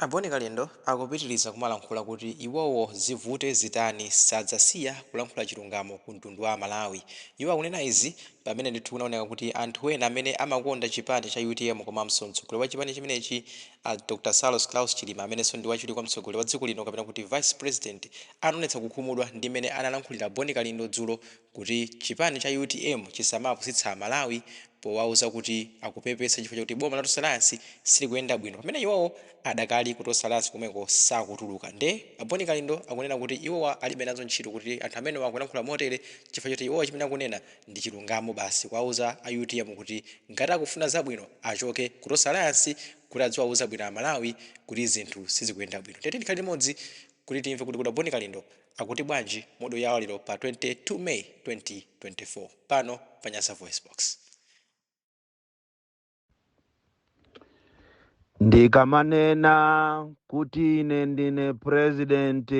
A Bon Kalindo akupitiriza kumalankhula kuti iwowo zivute zitani sadzasiya kulankhula chilungamo ku mtundu wa amalawi. Iwo akunena izi pamene ndithu kunaoneka kuti anthu ena amene amakonda chipani cha utm komanso mtsogoleri wa chipani chimenechi Dr Saulos Klaus Chilima amenenso ndi wachiwiri kwa mtsogoleri wa dziko lino kapena kuti vice president anaonetsa kukhumudwa ndi mmene analankhulira Bon Kalindo dzulo kuti chipani cha utm chisamapusitse a Malawi powauza kuti akupepesa chifukwa chakuti boma la Tonse Alliance silikuyenda bwino pamene iwowo adakali ku Tonse Alliance komweko sakutuluka nde a Bon Kalindo akunena kuti iwowa alibe nazo ntchito kuti anthu amenewa akulankhula motere chifukwa choti iwowa chimene akunena ndi chilungamo basi kuwauza a utm kuti ngati akufuna zabwino achoke ku Tonse Alliance kuti adziwauza bwino a Malawi kuti zinthu sizikuyenda bwino nde tiyeni tikhale limodzi kuti timve kuti kodi a Bon Kalindo Akuti bwanji mu audio yawo lero pa 22 May 2024 pano pa Nyasa VoiceBox. Ndikamanena kuti ine ndine president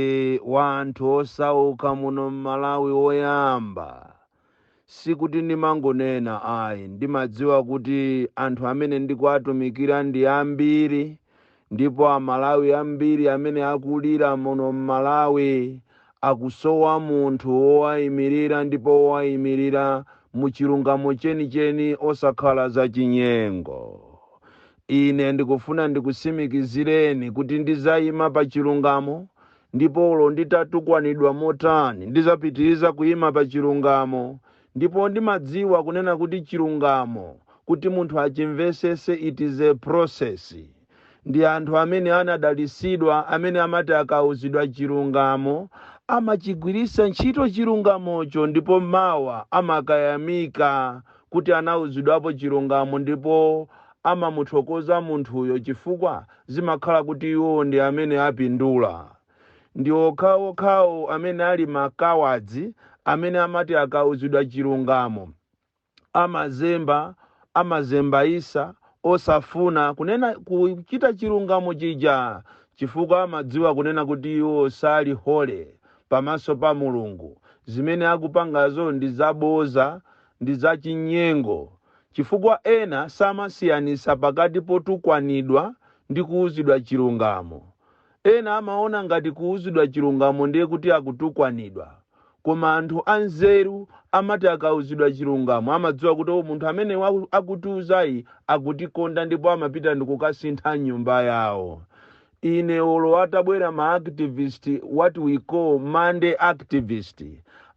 wa anthu osauka muno m'Malawi woyamba, Sikuti ndimangonena ayi, ndimadziwa kuti anthu amene ndikuwatumikira ndi ambiri ndipo Amalawi ambiri amene akulira muno m'Malawi akusowa munthu wowayimirira ndipo wowayimirira mu chilungamo chenicheni osakhala zachinyengo. Ine ndikufuna ndikusimikizireni kuti ndizayima pa chilungamo Ndipo olo nditatukwanidwa motani, ndizapitiriza kuima pa chilungamo. Ndipo ndimadziwa kunena kuti chilungamo kuti munthu achimvesese it is a process. Ndi anthu amene anadalisidwa amene amati akauzidwa chilungamo amachigwirisa ntchito chilungamocho ndipo mawa amakayamika kuti anauzidwapo chilungamo ndipo amamuthokoza munthuyo chifukwa zimakhala kuti iwo ndi amene apindula. Ndi okhaokhawo amene ali ma cowards amene amati akauzidwa chilungamo amazembazembaisa osafuna kunena kuchita chilungamo chija chifukwa amadziwa kunena kuti iwo sali holy pamaso pa Mulungu. Zimene akupangazo ndi zaboza ndi zachinyengo chifukwa ena samasiyanisa pakati potukwanidwa ndi kuuzidwa chilungamo. Ena amaona ngati kuuzidwa chilungamo ndiye kuti akutukwanidwa. Koma anthu anzeru amati akauzidwa chilungamo amadziwa kuti oh munthu amene wa- akutiuzayi akutikonda ndipo amapita ndikukasintha m'nyumba yawo. Ine olo atabwera ma activist what we call Monday activist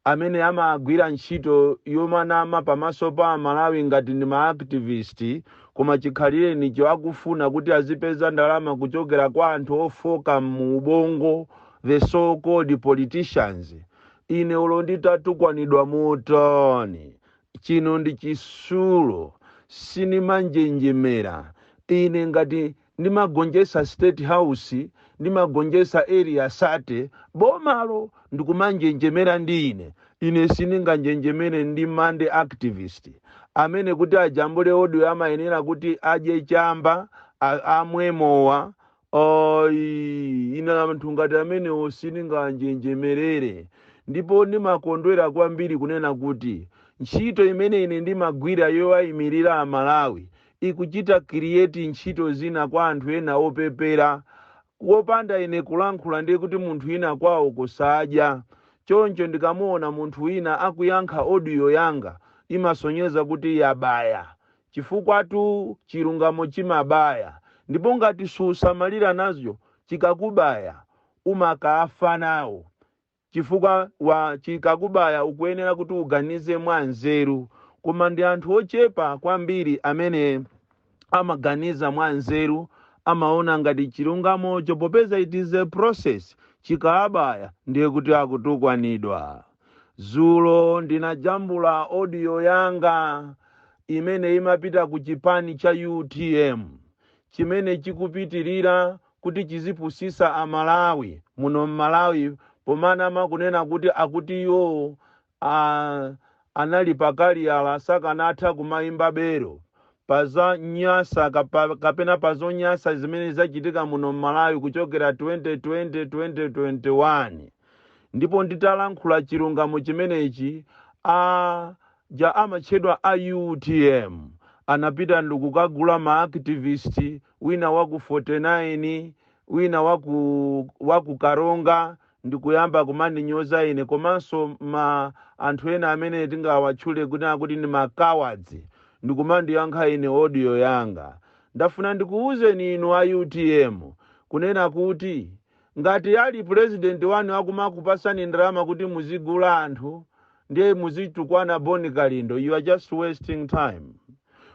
amene amagwira ntchito yomanama pamaso pa amalawi ngati ndi ma activist koma chikhalirenicho akufuna kuti azipeza ndalama kuchokera kwa anthu ofooka m'muubongo the so called politicians ine olo nditatukwanidwa motani chino ndi chisulo sinimanjenjemera ine ngati ndimagonjetsa state house ndimagonjetsa area 30 bomalo ndikumanjenjemera ndi ine ine sindinganjenjemere ndi monday activist amene kuti ajambule audio amayenera kuti adye chamba a- amwe mowa ine anthu ngati amenewo sindinganjenjemerere ndipo ndimakondwera kwambiri kunena kuti ntchito imene ine ndimagwira yowayimirira amalawi ikuchita create ntchito zina kwa anthu ena opepera popanda ine kulankhula ndiye kuti munthu ina kwawo kusadya choncho ndikamuona munthu wina akuyankha audio yanga imasonyeza kuti yabaya chifukwatu chilungamo chimabaya ndipo ngati susamalira nacho chikakubaya umakafa nawo Chifukwa chikakubaya ukuyenera kuti uganize mwa nzeru. Koma ndi anthu ochepa kwambiri amene amaganiza mwa nzeru, amaona ngati chilungamocho popeza it is a process, chikawabaya ndiye kuti akutukwanidwa. Zulo ndinajambula audio yanga imene imapita ku chipani cha utm chimene chikupitirira kuti chizipusisa a Malawi muno m'Malawi pomanama kunena kuti akuti iwo a anali pa kaliyala sakanatha kumayimba belo pa zanyasa kapena pa zonyasa zimene zachitika muno m'Malawi kuchokera 2020 2021 ndipo nditalankhula chilungamo chimenechi a ja amatchedwa a utm anapita ndikukagula ma activist wina wa ku 49, wina wa ku Karonga ndikuyamba kumandinyoza ine komanso ma anthu ena amene tingawatchule kunena kuti ndi ma cowards ndikumandiyankha ine audio yanga. Ndafuna ndikuwuzeni inu a utm kunena kuti Ngati ali president wanu akumakupasani ndalama kuti muzigula anthu ndiye muzitukwana Bon Kalindo you are just wasting time.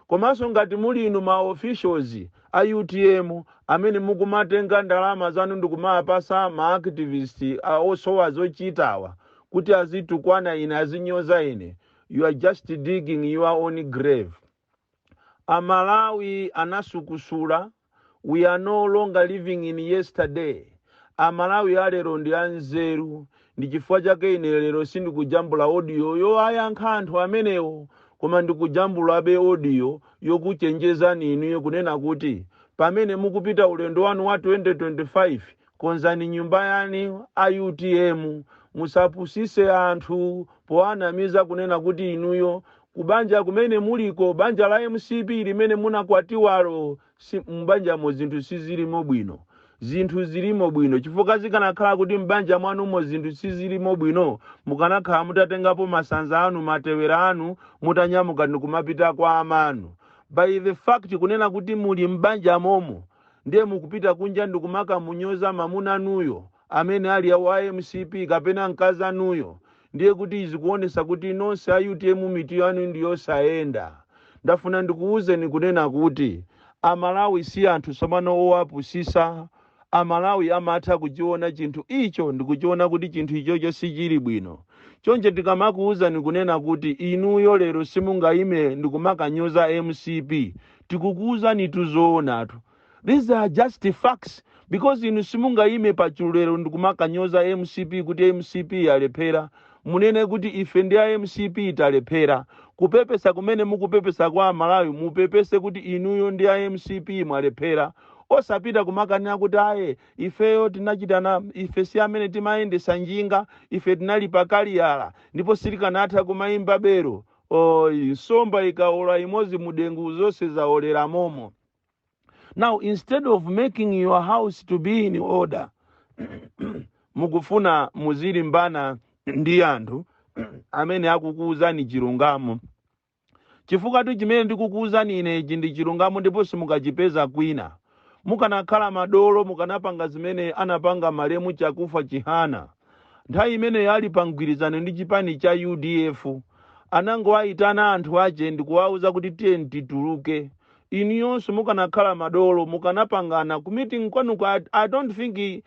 Komanso ngati muli inu ma officials a utm amene mukumatenga ndalama zanu ndikumawapasa ma activist osowa zochitawa kuti azitukwana ine azinyoza ine you are just digging your own grave. A Malawi anasukusula, we are no longer living in yesterday, a Malawi a lero ndi anzeru ndi chifukwa chake ine lero sindikujambula audio yowayankha anthu amenewo koma ndikujambulabe audio yokuchenjezani inuyo kunena kuti pamene mukupita ulendo wanu wa 2025 Konzani nyumba yanu a utm musapusise anthu powanamiza kunena kuti inuyo kubanja kumene muliko banja la mcp limene munakwatiwalo mbanjamo zinthu sizilimo bwino zinthu zilimo bwino chifukwa zikanakhala kuti mbanja mwanumo zinthu sizilimo bwino mukanakhala mutatengapo masanza anu matewera anu mutanyamuka ndikumapita kwa amanu by the fact kunena kuti muli mbanja momo ndiye mukupita kunja ndikumakamunyoza mamunanuyo amene ali wa mcp kapena mkazi wanuyo ndiye kuti zikuonesa kuti nonse a utm mitu yanu ndi yosayenda ndafuna ndikuwuzeni kunena kuti amalawi si anthu tsopano owapusisa amalawi amatha kuchiona chinthu icho ndikuchiona kuti chinthu ichocho sichili bwino choncho tikamakuwuzani kunena kuti inuyo lero simungayime ndikumakanyoza mcp tikukuuzanitu zoonatu these are just facts because inu simungayime pa chulu lero ndikumakanyoza mcp kuti mcp yalephera munene kuti ife ndi a mcp talephera kupepesa kumene mukupepesa kwa amalawi mupepese kuti inuyo ndi a mcp mwalephera osapita kumakanena kuti aye ifeyo tinachitana ife si amene timayendesa njinga ife tinali pakaliyala ndipo sitikanatha kumayimba belu Nsomba ikaola imodzi mudengu zonse zaolera momo. Now instead of making your house to be in order, mukufuna muzilimbana ndi anthu amene akukuwuzani chilungamo. Chifukwatu chimene ndikukuwuzani inechi ndi chilungamo ndipo simukachipeza kwina. Mukanakhala madolo mukanapanga zimene anapanga malemu Chakufa Chihana. nthawi imeneyo ali pa mgwirizano ndi chipani cha udf anangowaitana anthu ache ndikuwauza kuti tiyeni tituluke inuyonso mukanakhala madolo mukanapangana ku meeting kwanuko I don't think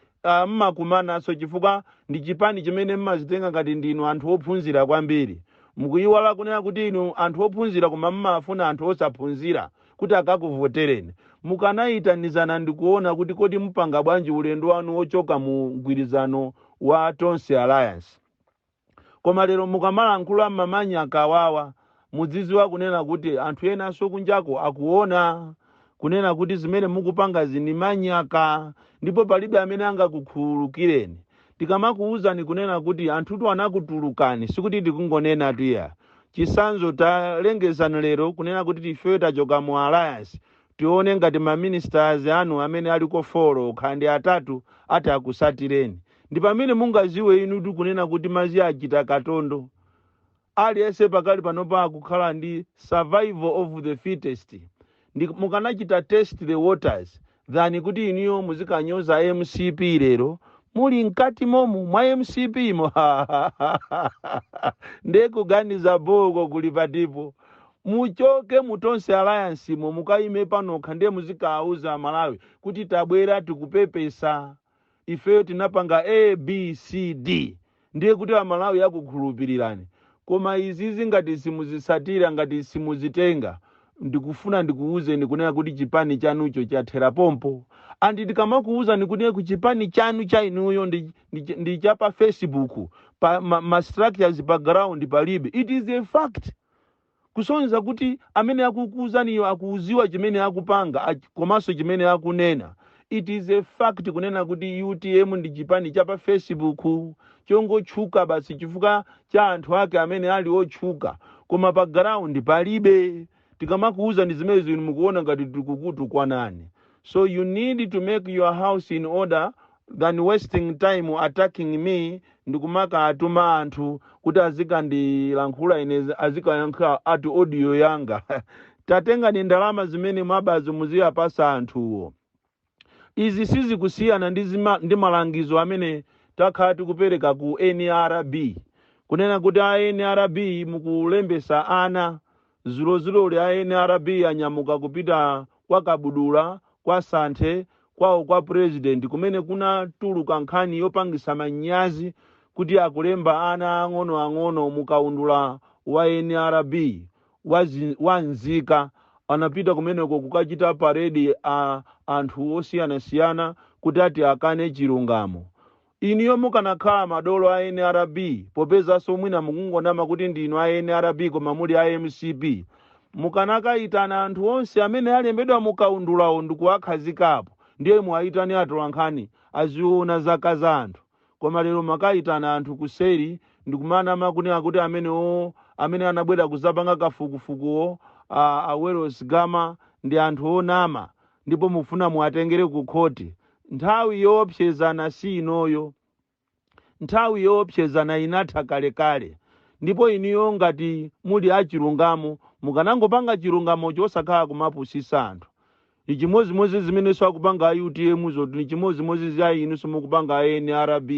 mmakumananso chifukwa ndi chipani chimene mmazitenga ngati ndinu anthu ophunzira kwambiri mukuyiwala kunena kuti inu anthu ophunzira koma mmafuna anthu osaphunzira kuti akakuvotereni. Mukanayitanizana ndikuona kuti kodi mupanga bwanji ulendo wanu wochoka mu mgwirizano wa Tonse Alliance. Koma lero mukamalankhula ma manyaka awawa, mudziziwa kunena kuti anthu enanso kunjako akuona kunena kuti zimene mukupangazi ndi manyaka ndipo palibe amene angakukhululukireni. tikamakuuzani kunena kuti anthutu anakutulukani sikuti tikungonenatu iyayi chisanzo talengezani lero kunena kuti ifeyo tachoka mu alliance tione ngati maministers anu amene aliko folo okha kaya ndi atatu ati akusatireni ndi pamene mungaziwe inutu kunena kuti mazi achita katondo Aliyense pakali panopa akukhala ndi survival of the fittest nde mukanachita test the waters than kuti inuyo muzikanyoza mcp lero muli mkati momu mwa mcp mo nde kuganiza boo uko kuli patipo muchoke mu tonse alliance mo mukayime panokha nde muzikauza amalawi kuti tabwera tikupepesa ifeyo tinapanga A, B, C, D ndiye kuti amalawi akukhulupilirani koma izizi ngati simuzitsatira ngati simuzitenga ndikufuna ndikuuzeni kunena kuti chipani chanucho chathera pompo and tikamakuuzani kuti chipani chanu cha inuyo ndi, ndi, ndi cha pa facebook pa ma, ma structures pa ground palibe it is a fact kusonyeza kuti amene akukuuzaniyo akuziwa chimene akupanga ach- komanso chimene akunena it is a fact kunena kuti utm ndi chipani cha pa facebook chongotchuka basi chifukwa cha anthu ake amene ali otchuka koma pa ground palibe tikamakuuzani zimenezi inu mukuona ngati tikukutukwanani so you need to make your house in order than wasting time attacking me ndikumakatuma anthu kuti azikandilankhula ine azikayankha ati audio yanga tatengani ndalama zimene mwabazo muziwapasa anthuwo izi sizikusiyana ndi, zima, ndi malangizo amene takhala tikupereka ku nrb kunena kuti a nrb mukulembesa ana Zulozuloli a nrb anyamuka kupita kwa Kabudula, kwa Santhe, kwawo kwa President kumene kunatuluka nkhani yopangitsa manyazi kuti akulemba ana aang'ono ang'ono mu kaundula wa nrb wa zi, wa nzika. Anapita kumeneko kukachita parade anthu osiyanasiyana kuti ati akane chilungamo. Inuyo mukanakhala madolo a nrb popezanso mwina mukungonama kuti ndinu a nrb koma muli a mcp mukanakayitana anthu onse amene alembedwa mu kaundulawo ndikuwakhazika apo ndiye muwayitane atolankhani azawone zaka za anthu koma lero mwakayitana anthu kuseri ndikumanama kunena kuti amenewo amene anabwera kuzapanga kafukufukuwo a a wellos gama ndi anthu onama ndipo mukufuna muwatengere ku khoti Nthawi yoopsezana si inoyo. Nthawi yoopsezana inatha kalekale. Ndipo inuyo ngati muli a chilungamo mukanangopanga chilungamocho osakhala kumapusisa anthu. Nichimozimozi zimenenso akupanga a UTM zo nichimozimozi za inunso mukupanga a NRB.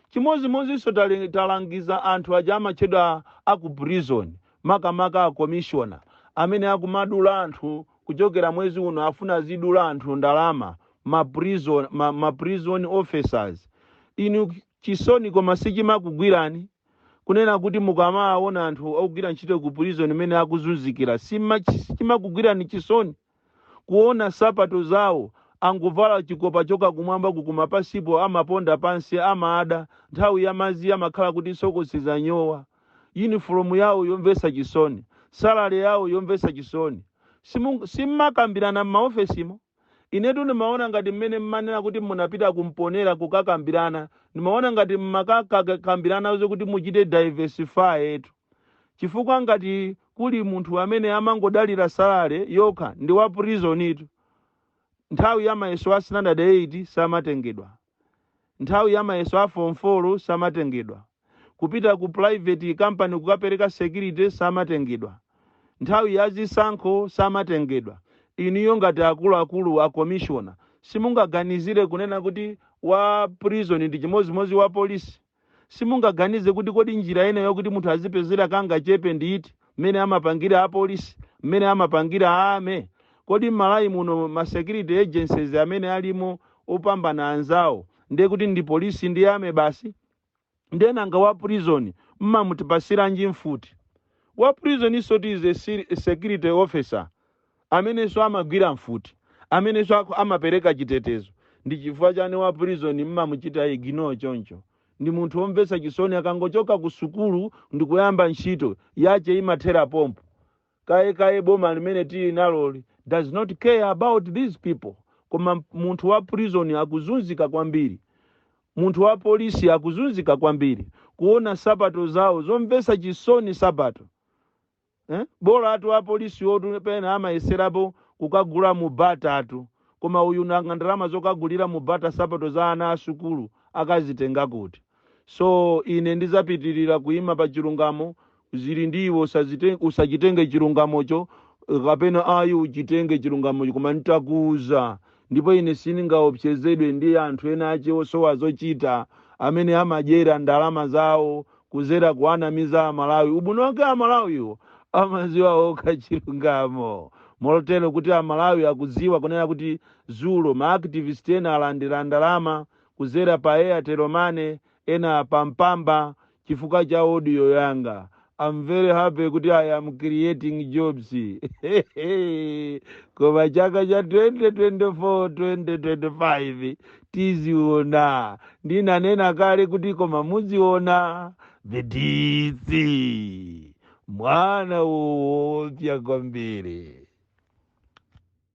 Chimozimozinso talangiza anthu aja amatchedwa a ku prison makamaka a commissioner amene akumadula anthu kuchokera mwezi uno afuna azidula anthu ndalama ma prison officers inu chisoni koma sichimakugwirani kunena kuti mukamaona anthu akugwira ntchito ku prison mmene akuzunzikira sichimakugwirani chisoni kuona sapato zawo angovala chikopa choka kumwamba kuku koma pansipo amaponda pansi amada nthawi ya madzi amakhala kuti sokosi zanyowa uniform yawo yomvetsa chisoni, salary yawo yomvetsa chisoni. Simmakambirana m'maofesimo? Inetu ndimaona ngati mmene mmanena kuti munapita ku Mponela kukakambirana, ndimaona ngati mmakakambirana zokuti muchite diversify tu. Chifukwa ngati kuli munthu amene amangodalira salary yokha ndi wa prison tu. Nthawi ya mayeso a standard 8 samatengedwa. Nthawi ya mayeso a form 4 samatengedwa. Kupita ku private company kukapereka security samatengedwa. Nthawi ya zisankho samatengedwa. Inuyo ngati akuluakulu a commissioner simungaganizire kunena kuti wa prison ndi chimodzimodzi wa polisi? simungaganize kuti kodi njira ina yokuti munthu azipezera kangachepe ndi iti mmene amapangira apolisi mmene amapangira a army kodi m'Malawi muno ma security agencies amene alimo opambana anzawo ndiye kuti ndi polisi ndi army basi ndiye nanga wa prison mmamupatsiranji mfuti wa prison is what is a security officer amenenso amagwira mfuti, amenenso amapereka chitetezo. Ndi chifukwa chani wa prison mmamuchita ignore choncho? Ndi munthu omvetsa chisoni akangochoka ku sukulu ndikuyamba ntchito, yache imathera pompo. Kaye kaye boma limene tili naloli does not care about these people. Koma munthu wa prison akuzunzika kwambiri, munthu wa polisi akuzunzika kwambiri kuona nsapato zawo zomvetsa chisoni nsapato. bolatu apolisiwotu pena amayeserapo kukagula mu Bata tu koma uyu nanga ndalama zokagulira mu Bata sapato za ana a sukulu akazitenga kuti so ine ndizapitirira kuima pa chilungamo zili ndi iwe usachitenge chilungamocho kapena ayi uchitenge chilungamocho koma nidzakuuza ndipo ine sindingaopsezedwe ndi anthu ena ake osowa zochita amene amadyera ndalama zawo kuzera kuwanamiza aMalawi ubwino wake aMalawiwo amaziwa okha chilungamo molotero kuti aMalawi akuziwa kunena kuti zulo ma activist ena alandira ndalama kuzera pa Airtel Money ena pa Mpamba chifukwa cha audio yanga I'm very happy kuti I am creating jobs. Koma chaka cha 2024 2025 tiziona ndinanena kale kuti koma muziona the DC mwana woopya kwambiri